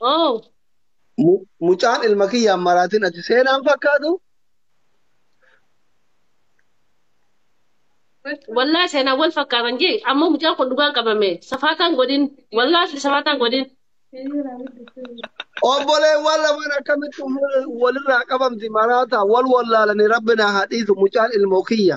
Oo. Mu- Mucaan ilma kiyyaan maraatiin ati seenaan fakkaatu Wallaa seenaa wal fakkaatan jee ammoo mucaan kun dhugaan qabame safaataan godhin wallaa asli safaataan godhin. obboleewwan lamaan akkamitti umri walirraa qabamti maraataa wal wallaalanii rabbinaa haa dhiisu mucaan ilmoo kiyya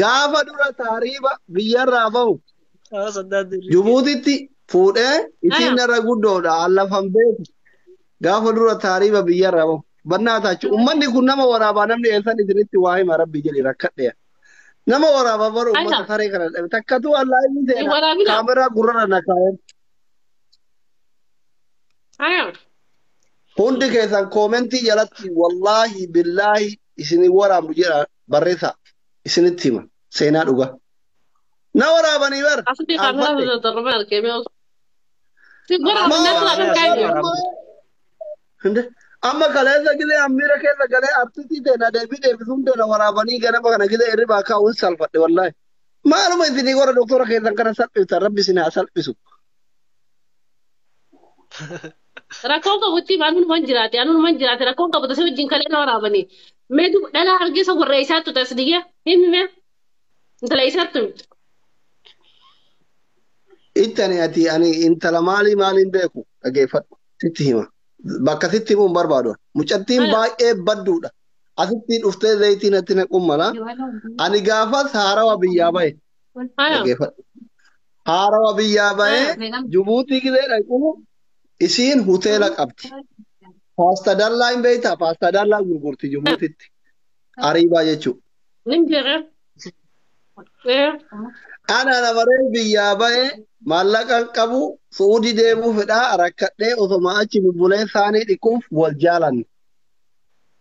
Gaafa dura taariiba biyyarraa bahu Haala saddaa dirree. Jibuutitti fuudhee isiin narra guddoodha allafan beeku. Gaafa dura taariiba biyyarraa bahu. Bannaa taachu ummanni kun nama waraabaa namni eessan isinitti waa hima rabbi jedhi rakkadheera. Nama waraabaa bara ummata Ayisa. saree kana dhabe takkatuu allaa inni Hin seena waraabina. kaameraa gurrarra na kaayan. Ayoo. Hundi keessan koomentii jalatti wallaahi billaahi isin waraabnu jedha barreessaa isinitti hima seenaa dhugaa. Na waraabanii bar Asli qaanfadhe. kameratu da darbe arkee mee osoo. Si gora Amma abinatu waan akan kaayne. amma Hinde amma kaleessa gilee ammiira keessa galee artisii ta'e na deebii deebisuun ta'e na waraabanii ganama kana gilee irri baakaa wal salfadhe wallaahi. Maaluma isinii gora doktora keessan kana salphiftan rabbi isin haa salphisu. Rakkoon qabutti anuunuman jiraate anuunuman jiraate rakkoon qabu tasee wajjin kalee na waraabanii. Mee dub dhala hargeessa warra eessaattu tas diyyee himi mee intala eessaattu himtu. Ittani ati ani intala maalii maaliin beeku dhageeffadhu sitti hima. Bakka sitti himuun barbaadu. Mucattiin Ala. baay'ee badduudha. Asitti dhuftee zayitii natti naquu mala. Ani gaafas haarawa biyyaa bahe. Haya. Dhageeffadhu. Haarawa biyyaa bahee Haya, meeqan? Jibuutii gisee dhaqu isiin hoteela qabdi. Paasta dallaa hin beektaa? Paasta dallaa gurgurti Jibuutitti. Ariibaa jechuudha. Nin beekaa. Ee, Ana namaree biyyaa bahee maallaqa hin qabu Suudi deemuu fedhaa rakkadhee osoma achi bubbulee saanii dhiquuf wal jaalanne.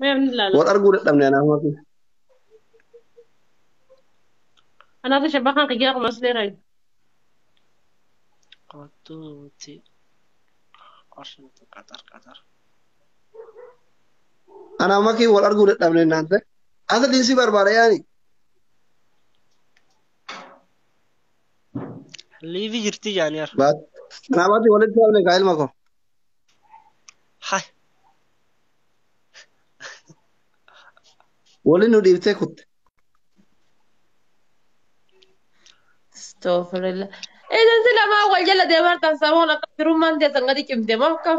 Mee ani ilaala. Wal arguu dadhabne anaa hoofi. Anaatu shabbaa kan kiyyaa kumas dheeraa. Kottu nuti qorshin qaxar qaxar. Anaa makii wal arguu dadhabne naan ta'e. Asa dinsi barbaada yaani. Liivi jirti jaaniyaar. Baat. Anaa baati walitti dhaabne kaa ilma koo. Hay. Waliin nu dhiibtee kutte. Astaghfirullah. Isin si lamaan wal jala deemartan samuun akka firummaan keessan gadi cimte moo akkam?